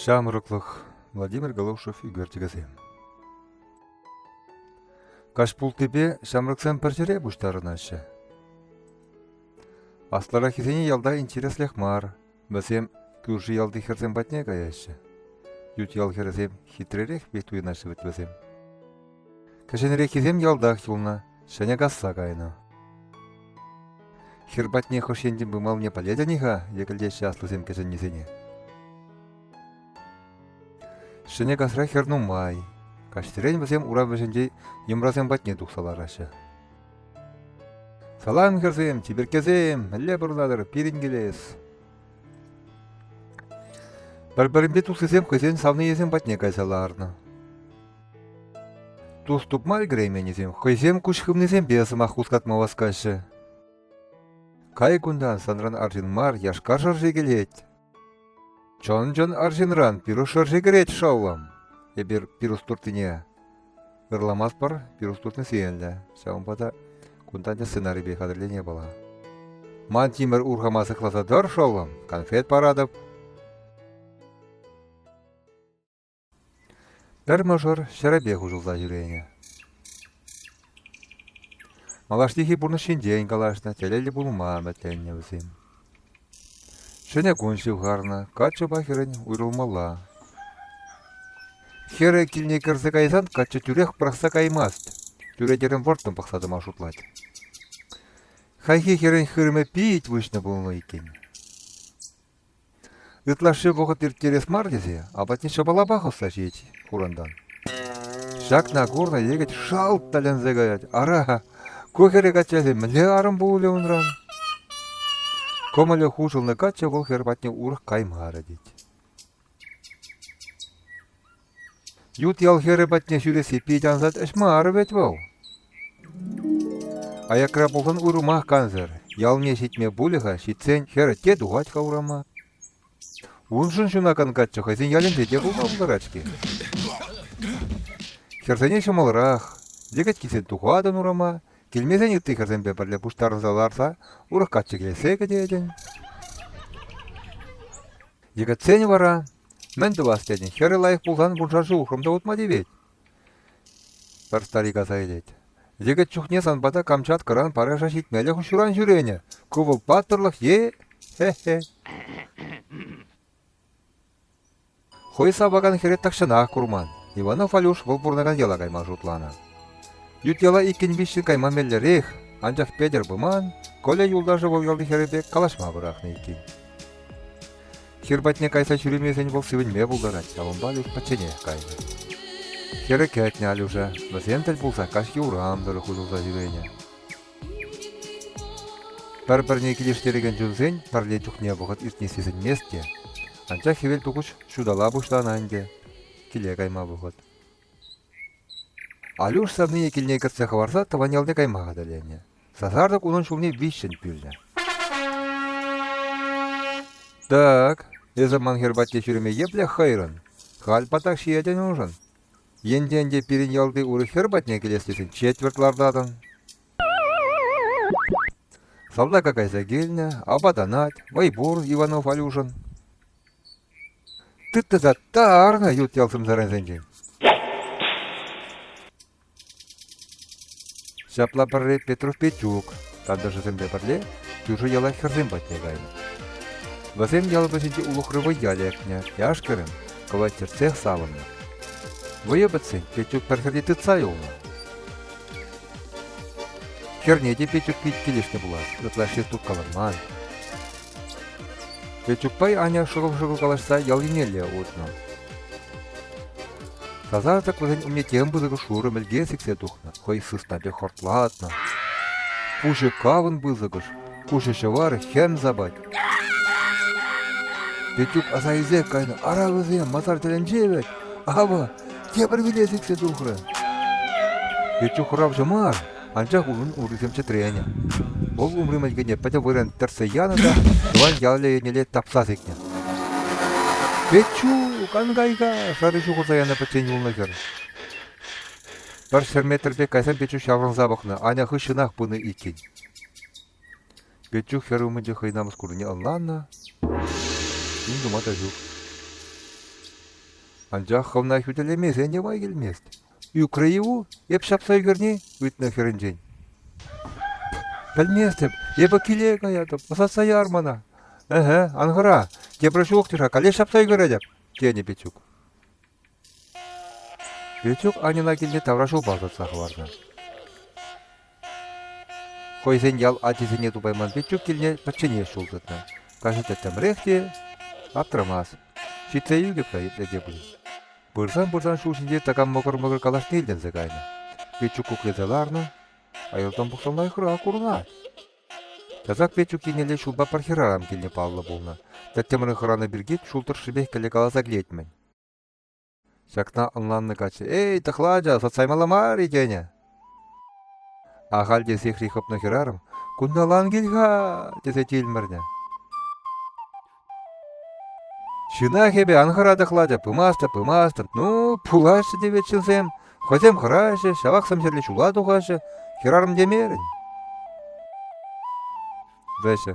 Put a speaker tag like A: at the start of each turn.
A: Ҫамрӑклӑх Владимир Голошев ӳкертекесем Каҫ пултипе ҫамрӑксем пӗр ҫӗре пуҫтарӑнаҫҫӗ. Аслӑраххисене ялта интереслех мар, Вӗсем кӳрши ялти хӗрсем патне каяҫҫӗ. Ют ял хӗрӗсем хитререх пек туйӑнаҫҫӗ вӗт вӗсем. Кӗҫӗнреххисем ялтах юлнӑ, ҫӗнӗ касса кайнӑ. Хӗр патне хӑш енчен пымалне пӗлетӗн-и-ха? йӗкӗлтеҫҫӗ аслисем кӗҫӗннисене. Ҫӗнӗ касра хӗр нумай. Каҫсерен вӗсем урам вӗҫӗнче йӑмрасем патне тухса лараҫҫӗ. Салам, хӗрсем, чиперккесем, мӗнле пурӑнатӑр пирӗн килес? Пӗр-пӗринпе туслисем хӑйсен савнийӗсем патне кайса ларнӑ. Тус тупма ӗлкӗрейменнисем хӑйсем куҫ хывнисемпе сӑмах хускатма васкаҫҫӗ. Кай кунтан санран арҫын мар яшка шӑрши килет. Чӑн-чӑн арҫынран пирус шӑрши кӗрет шӑллӑм. Эпир пирус туртнине ырламастпӑр, пирус туртни сиенлӗ. Ҫавӑнпа та кунтан те сценарипе хатӗрлеме пала. Ман тимӗр урхама сыхласа тӑр, шӑллӑм, конфет паратӑп. Пӗр мӑшӑр ҫӗрӗпех уҫӑлса ҫӳренӗ. Малашнехи пурнӑҫ ҫинчен калаҫнӑ, телейлӗ пулма ӗмӗтленнӗ вӗсем. Ҫӗнӗ кун ҫывхарнӑ, каччӑпа хӗрӗн уйрӑлмалла. Хӗрӗ килне кӗрсе кайсан каччӑ тӳрех пӑрахса каймасть, чӳречерен вӑрттӑн пӑхса тӑма шутлать. Хайхи хӗрӗн хырӑмӗ пит выҫнӑ пулнӑ иккен. Ытлашши вӑхӑт ирттерес мар тесе апатне ҫӑпала пахӑсса ҫиет хурӑнтан. Ҫакна курнӑ йӗкӗт шалт тӗлӗнсе каять. Ара, ку хӗре каччасем мӗнле арӑм пулӗ унран? Кӑмӑлӗ хушӑлнӑ каччӑ вӑл хӗр патне урӑх каймарӗ тет. Ют ял хӗрӗ патне ҫӳресси питӗ ансат ӗҫ мар вӗт вӑл. Аякра пулсан урӑмах кансӗр. Ялне ҫитме пулӗ-ха, ҫитсен хӗр те тухать-ха урама. Уншӑн ҫунакан каччӑ хӑйсен ялӗнче те пулма пултарать-ҫке. Хӗрсене ҫӑмӑлрах. Йӗкӗткисем тухатӑн урама, килмесен ытти хӗрсемпе пӗрле пуҫтарӑнса ларса урӑх качча килессе кӗтетӗн. Йӗкӗтсен вара «Мӗн тӑвас?» тетӗн, хӗрӗ лайӑх пулсан вуншар ҫул хӑм та утма тивет. Пӗр старик аса илет. Йӗкӗт чухне сан пата Камчаткӑран параша ҫитмелӗх ҫуран ҫӳренӗ. Кӑвӑл паттӑрлӑх е... Хе-хе. Хӑй сапакан хӗре тахҫанах курман. Иванов Алюш вӑл пурӑнакан яла кайма шутланӑ. Ют яла иккӗн-виҫҫӗн кайма меллӗрех, анчах Петӗр Пыман, Коля юлташӗ вӑл ялти хӗрӗпе калаҫма пӑрахнӑ иккен. Хӗр патне кайса ҫӳремесен вӑл сивӗнме пултарать, ҫавӑнпа Алюш пӗчченех кайнӑ. Хӗрӗ кӗтнӗ Алюша. Вӗсем тӗл пулса каҫ юрам тӑрӑх уҫӑлса ҫӳренӗ. Пӗр-пӗрне килӗштерекен чунсен пӗрле чухне вӑхӑт иртни сисӗнмест те. Анчах хӗвел тухӑҫ ҫутала пуҫланӑ ӗнтӗ. Киле кайма вӑхӑт. Алюш савнине килне кӗртсе хӑварса тӑван ялне кайма хатӗрленӗ. Сасартӑк унӑн ҫулне виҫҫӗн пӳлнӗ. «Так, эсӗ ман хӗр патне ҫӳреме епле хӑйрӑн? Халь патак ҫиетӗн уншӑн. Енте ӗнтӗ пирӗн ялти урӑх хӗр патне килес тесен четвӗрт лартатӑн». Салтака кайса килнӗ, апатанать, вӑй пур Иванов Алюшӑн. Тыттаса тарнӑ ют ял сӑмсарансенчен. Ҫапла пӗрре Петров Петюк тантӑшӗсемпе пӗрле кӳршӗ яла хӗрсем патне кайнӑ. Вӗсем ял вӗҫӗнчи улӑхри вӑййа лекнӗ, яш-кӗрӗм кӑвайт чӗртсех савӑннӑ. Вӑйӑ пӗтсен Петюк пӗр хӗрте тытса юлнӑ. Хӗрне те Петюк пит килӗшнӗ пулас, ытла ҫеҫ каланман. Петюкпай Аня шӑкӑл-шӑкӑл калаҫса ял еннелле утнӑ. Сасартӑк вӗсен умне тем пысӑк шурӑ мӗлке сиксе тухнӑ, хӑй сыснапе хортлатнӑ. Пуҫӗ кавӑн пысӑкӑш, куҫӗ ҫӑвар хӗм сапать. Петюк аса илсе кайнӑ, ара вӗсем масар тӗлӗнче вӗт, авӑ, тепӗр виле сиксе тухрӗ. Петюк хӑравҫӑ мар, Анчах унӑн урисем чӗтренӗ. Вӑл умри мӗлкене пӗтӗм вырӑн тӗртсе янӑ та тӑван ял еннелле тапса сикнӗ. «Печу, канкайка!» шарӗ ҫухӑрса янӑ пӗччен юлнӑ хӗр. Пӗр ҫӗр метрпе кайсан Печук ҫаврӑнса пӑхнӑ, Аня хыҫҫӑнах пынӑ иккен. Печук хӗр умӗнче хӑй намӑс курнине ӑнланнӑ, ним тума та ҫук. Анчах хӑвна хӳтӗлемесен те май килмест. Ӳкрӗ-и-у эп ҫапса ӳкерни ыйтнӑ хӗрӗнчен. Пӗлместӗп, эпӗ киле каятӑп, ӑсатса яр мана. Эхе, ан хӑра, тепӗр ҫул ҫук-тӑр-ха, каллех ҫапса ӳкеретӗп, тенӗ Петюк. Петюк Аньӑна килне таврашулпа ӑсатса хӑварнӑ. Хӑйсен ял ачисене тупайман Петюк килне пӗчченех ҫул тытнӑ. Каҫа тӗттӗмрех те аптрамас. Ҫитсе илтӗк та итле те пулин. Пырсан-пырсан ҫул ҫинче такам мӑкӑр-мӑкӑр калашне илтӗнсе кайнӑ. Петюк куклесе ларнӑ. Аялтан пӑхсан лайӑхрах курӑнать. Часах Петюк еннелле ҫулпа пӗр хӗрарӑм килне паллӑ пулнӑ. Тӗттӗмре хӑранӑ пирки ҫул тӑршшӗпех кӗле каласа килет-мӗн. Ҫакна ӑнланнӑ каччӑ, «Эй, тӑхла ача, сӑтсаймалла мар-и?» тенӗ. Ахаль те сехри хӑпнӑ хӗрарӑм, «Кунталан кил-ха!» тесе тилмӗрнӗ. «Ҫынах эпӗ, ан хӑра тӑхлача, пымастӑр, пымастӑр, ну, пулаҫҫӗ тевет ҫынсем, хӑйсем хӑраҫҫӗ, ҫавах сӗмсӗрлӗ ҫула тухаҫҫӗ, хӗрарӑм темерӗн». Вӗҫӗ.